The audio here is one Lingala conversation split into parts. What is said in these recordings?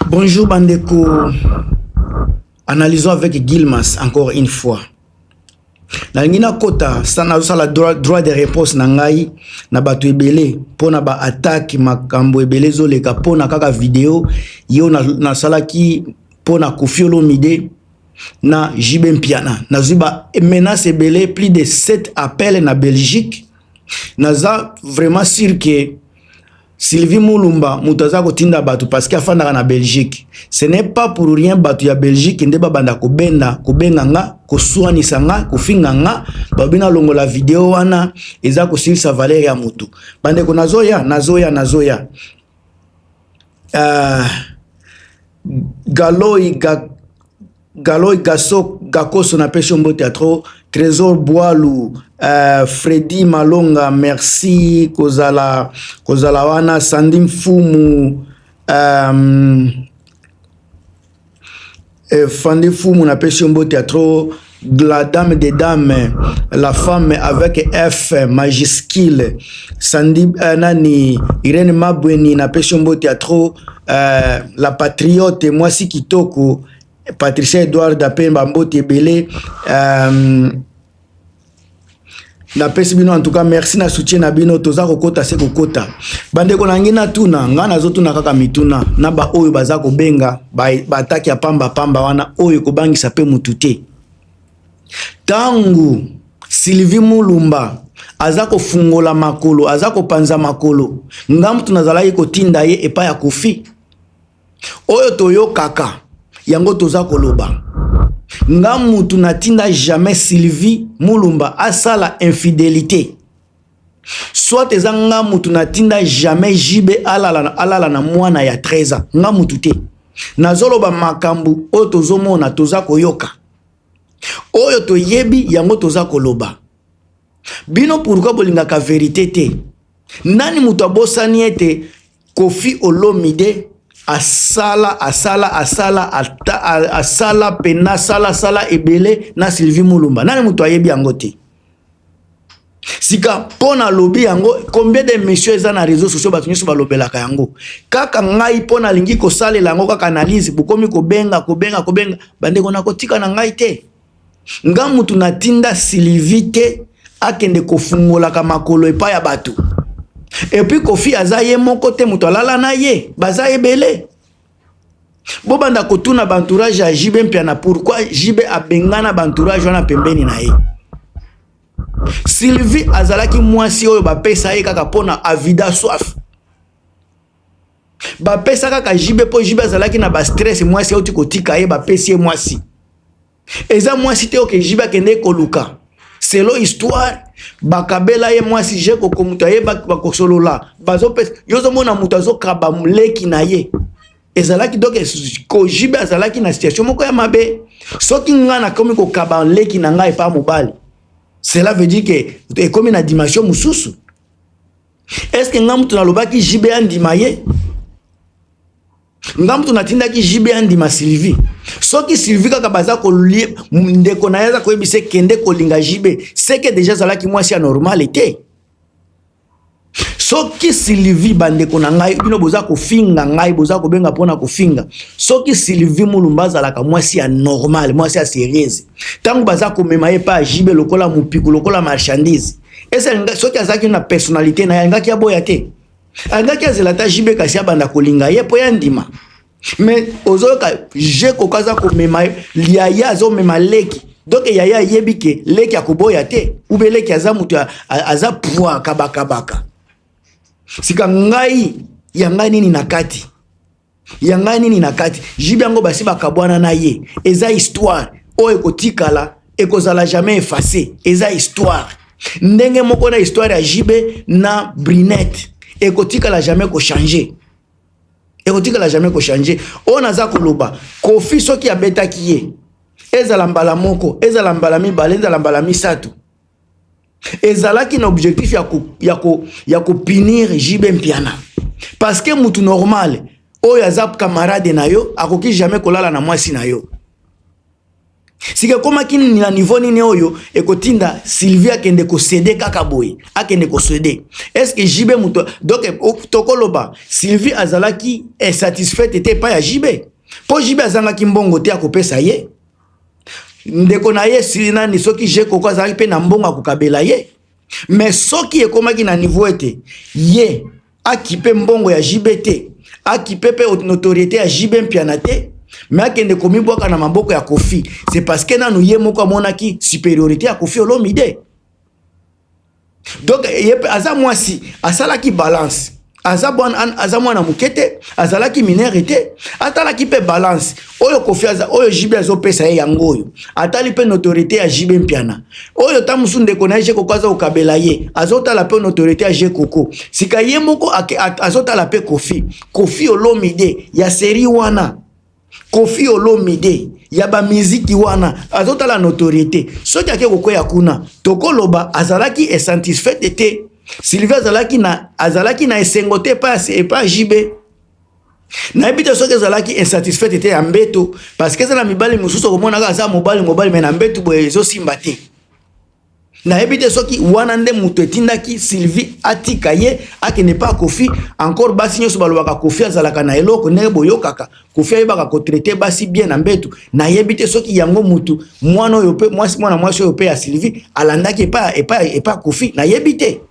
Bonjour bandeko, analysons avec Gilmas encore une fois. nalingi nakota nazosala droit de réponse na ngai na bato ebele mpo na baattaque makambo ebele ezoleka mpo na kaka video yo nasalaki mpo na kofiolomide na jb mpiana nazwi ba menace ebele plus de 7 appel na belgique naza vraiment sur que Sylvie Mulumba moto aza kotinda bato parce que afandaka na Belgique. Ce n'est pas pour rien bato ya Belgique nde babanda kobenda kobenga nga koswanisa nga kofinga nga babina longola video wana eza kosilisa valeur ya moto. Bandeko nazoya nazoya nazoya. Uh, Galoi ga, Galoy Gaso Gakoso na pesho mbote ya trop Trésor Boalu euh, Freddy Malonga merci kozala kozala wana Sandy Mfumu euh, euh, Fandi Mfumu na pesho mbote ya trop la dame des dames la femme avec F majuscule Sandy euh, nani Irene Mabweni na pesho mbote ya trop euh, la patriote mwasi kitoko Patricia Edward ape ba mbote ebele euh, napesi bino antuka merci na soutien na bino toza kokota se kokota bandeko na ngai natuna ngai nazotuna kaka mituna na baoyo baza kobenga baataki ya pamba pamba wana oyo ekobangisa mpe motu te ntango sylvie mulumba aza kofungola makolo aza kopanza makolo ngai motu nazalaki kotinda ye epai ya kofi oyo toyokaka yango toza koloba nga mutu natinda jamais sylvie mulumba asala infidelite soit eza nga mutu natinda jamais jb alala, alala na mwana ya 13 ans nga mutu te nazoloba makambo oyo tozomona toza koyoka oyo toyebi yango toza koloba bino pourkui bolingaka verite te nani moto abosani ete Koffi Olomide asala asala asala asala pena sala sala ebele na Sylvie Mulumba nani moto ayebi yango te sika mpo na lobi yango combien de mission eza na réseau sociaux bato nyonso balobelaka yango kaka ngai mpo nalingi kosalela yango kaka analyse bokomi kobenga kobenga kobenga bandeko na kotika na ngai te nga mutu natinda silivi te akende kofungolaka makolo epai ya bato epuis kofi aza ye moko te moto alala na ye baza ebele bobanda kotuna bantourage ya jibe mpiana pourkui jibe abengana bantourage wana pembeni na ye sylvie azalaki mwasi oyo bapesa ye kaka mpona avida soif bapesa kaka jibe mpo jibe azalaki na bastress mwasi auti kotika ye bapesi ye mwasi eza mwasi te oke jibe akendeki koluka selo histoire bakabela ye mwasi je koko moto ayebaki bakosolola bazopesa yo ozomona moto azokaba leki na ye ezalaki donc kojibe azalaki na situation moko ya mabe soki ngai nakomi kokaba leki na ngai epa mobali cela veut dire ke ekomi na dimension mosusu est ce que nga mutu nalobaki JB andima ye nga mutu natindaki JB andima Sylvie soki Sylvie kaka baza kolie ndeko na ye aza koyebisa kende kolinga JB seke deja azalaki mwasi ya normale te soki sylvie bandeko na ngai bino boza kofinga ngai boza kobenga mpona kofinga soki sylvie mulumba azalaka mwasi ya normal mwasi ya serieuse ntango baza komema ye mpa jibe lokola mopiku lokola marchandise esalinga soki azalaki na personnalité na ye alingaki aboya te alingaki azela ata jibe kasi abanda kolinga ye mpo ya ndima mais ozoyoka je koka aza komema yaya azomema leki donk yaya ayebi ke leki akoboya te ube leki aza moto aza pwa kabakabaka sika ngai ya ngai nini na kati ya ngai nini na kati jibi yango basi bakabwana na ye eza histoire oyo ekotikala ekozala jamais efface eza histoire ndenge moko na histoire ya jb na brinette ekotikala jamais kochange ekotikala jamais kochange oyo naza koloba kofi soki abetaki ye ezala mbala moko ezala mbala mibale ezala mbala misato ezalaki na objectif ya ko ya ko ya ko punir JB Mpiana parce que mutu normal oyo aza camarade na yo akoki jamais kolala na mwasi na yo sika ekomaki na niveau nini oyo ekotinda Sylvie akende kosede kaka boye akende kosede eske JB moto donc tokoloba Sylvie azalaki insatisfaite te epai ya JB mpo JB azangaki mbongo te akopesa ye ndeko na ye esili nani soki je koko azalaki mpe na mbongo ya kokabela ye me soki ekomaki na niveau ete ye akipe mbongo ya jb te akipe mpe notoriete ya jb mpiana te me akende komibwaka na maboko ya kofi se parceke nanu ye moko amonaki superiorité ya kofi olomide donc ye mpe aza mwasi asalaki balance aza bwana aza mwana moke te azalaki minere te atalaki mpe balance oyo kofi aza oyo jibe azopesa ye yango oyo atali mpe notorité ya jibe mpiana oyo ta mosusu ndeko na ye je koko aza kokabela ye azotala mpe notorité ya je koko sika ye moko azotala mpe kofi kofi olomide ya seri wana Kofi Olomide ya ba miziki wana azotala notoriete soki ake kokweya kuna tokoloba azalaki esatisfaite te Sylvie azalaki na azalaki na esengo te epa epa JB nayebi te soki ezalaki insatisfaite te ya mbeto parce que eza na mibali mosusu okomonaka aza mobali mobali me na mbeto boye ezosimba te nayebi te soki wana nde moto etindaki sylvie atika ye akende mpa kofi encore basi nyonso balobaka kofi azalaka na eloko ndenge boyokaka kofi ayebaka kotraite basi bien na mbetu nayebi te soki yango motu mwana oyo mpe mwasi mwana mwasi oyo mpe ya sylvie alandaki epa epa epa kofi nayebi te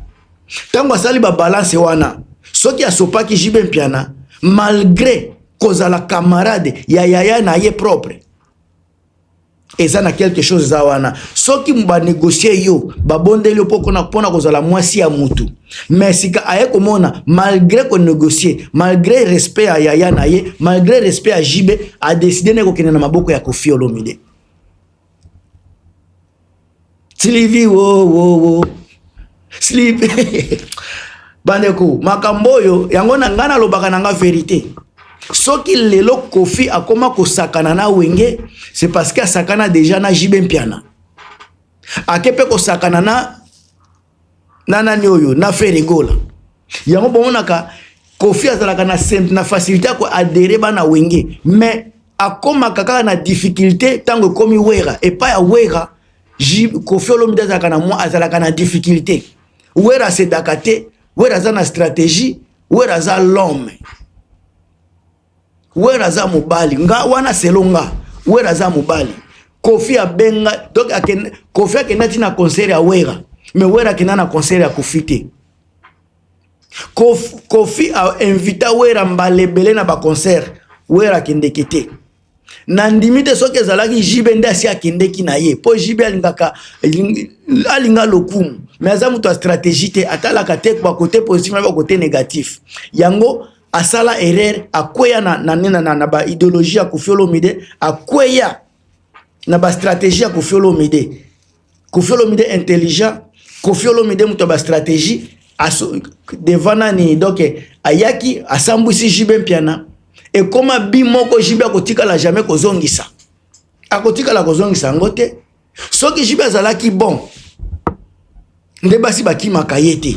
ntango asali babalanse wana soki asopaki jibe mpiana malgre kozala camarade ya yaya na ye propre eza na quelque chose eza wana soki ba négocier yo babondeli yo pokona pona kozala mwasi ya mutu mais sika aye komona malgré ko négocier malgré respect ya yaya na ye malgré respect ya JB a décider na kokende na maboko ya Koffi Olomide Sylvie wo wo wo Sylvie bandeko makambo oyo yango na ngai nalobaka na ngai verite soki lelo kofi akoma kosakana na wenge c'est parce que asakana déjà na jibe mpiana ake mpe kosakana na na nani oyo na Ferre Gola yango bomonaka Kofi azalaka na na facilité ya ko adhérer bana wenge mais akomaka kaka na difficulté ntango ekomi wera epai ya wera kofi olomide azalaka na mwa azalaka na difficulté wera asedaka te wera aza na stratégie wera aza l'homme wera aza mobali nga wana selo nga wera aza mobali kofi abenga donc akende kofi akenda ti na concert ya wera me wera akenda na concert ya kofi te kofi, kofi ainvita wera mbala ebele na baconcert wera akendeke te nandimi te soki ezalaki jibe nde asi akendeki na ye mpo jibe alingaka alinga lokumu me aza moto ya stratégie te atalaka te bakote positif na bakote négatif yango asala erreur akweya na, na, na, na, na ba ideologie ya Koffi Olomide akweya na ba stratégie ya Koffi Olomide Koffi Olomide intelligent Koffi Olomide moto ya ba stratégie aso, devant nani donc ayaki asambwisi JB Mpiana ekoma bi moko JB akotikala jamais kozongisa akotikala kozongisa yango te soki JB azalaki bon nde basi bakimaka ye te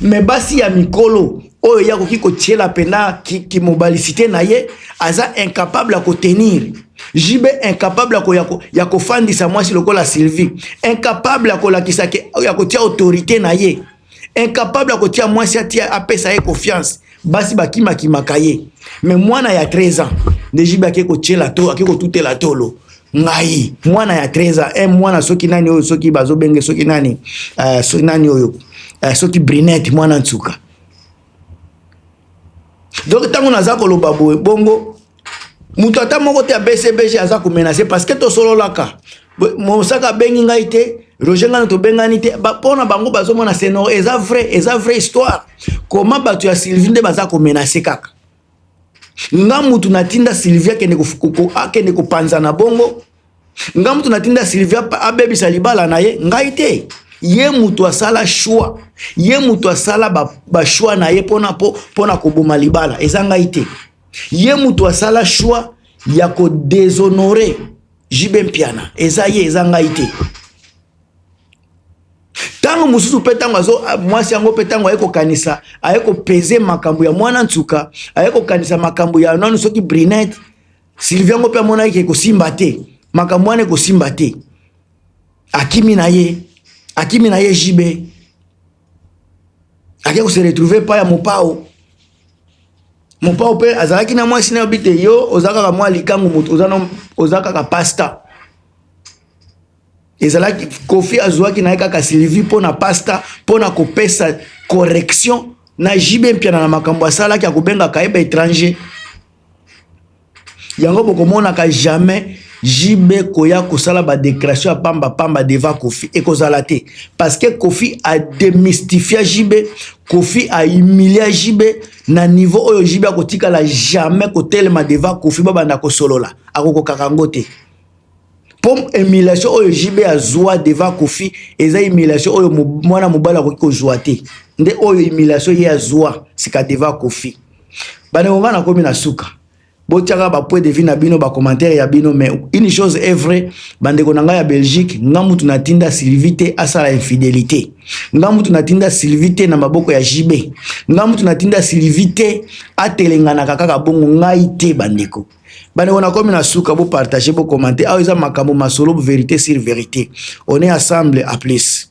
me basi ya mikolo oyo ye akoki kotiela mpena kimobalicité ki na ye aza incapable ya kotenir jb incapable ya, ko, ya, ko, ya kofandisa mwasi lokola sylvie incapable ya kolakisa ke ya kotia autorité na ye incapable ya kotia mwasi atia apesa ye confiance basi bakimakimaka ye me mwana ya 13 ans nde jb ake kotiela to ake kotutela tolo ngai mwana ya 13 ans eh, mwana soki nani oyo soki bazobenge soki nani uh, soki nani oyo uh, soki brinette mwana nsuka donc ntango naza koloba boye bongo moto ata moko te ya bcbg aza komenase parce que tosololaka mosaka abengi ngai te roger ngana tobengani te mpo na bango bazomona senor eza vrai eza vrai histoire koma bato ya sylvie nde baza komenase kaka nga mutu natinda Sylvia kende akende kopanza na bongo nga mutu natinda Sylvia abebisa libala na ye ngai te ye mutu asala choix ye mutu asala bachoix na ye mpona po mpona koboma libala eza ngai te ye mutu asala choix ya kodeshonore jibe mpiana eza ye eza ngai te ntango mosusu mpe ntango azo mwasi yango mpe ntango aye kokanisa aye kopeze makambo ya mwana nsuka aye kokanisa makambo ya nano soki brinete sylvie yango mpe amonaki ekosimba te makambo wana ekosimba te akimi na ye akimi na ye jibe ake kose retrouve epai ya mopao mopao mpe azalaki na mwasi na yo bite yo oza kaka mwa likangu moto oza kaka pasta ezalaki kofi azuaki na ye kaka sylvie mpo na pasta mpo na kopesa correction na jb mpiana na makambo asalaki akobengaka ye baétranger yango bokomonaka jamais jb koya kosala badéclaration ya pamba pamba deva kofi ekozala te parce que kofi ademystifia jb kofi ahumilia jb na niveau oyo jb akotikala jamais kotelema deva kofi babanda kosolola akokokaka yango te mpo emulation oyo jb azwa devant kofi eza emulation oyo mwana mobali akoki kozwa te nde oyo emulation ye azwa sika devant kofi bandeko ngai nakomi na suka botiaka bapoint de vue na bino bacommentaire ya bino mais une chose est vrai bandeko na ngai ya belgique nga mutu natinda sylvie te asala infidélité nga mutu natinda sylvie te na maboko ya jb nga mutu natinda sylvie te atelenganaka kaka bongo ngai te bandeko bandeko nakomi na suka bopartage bokomante awa eza makambo masolo verité sur verité on est ensemble à plus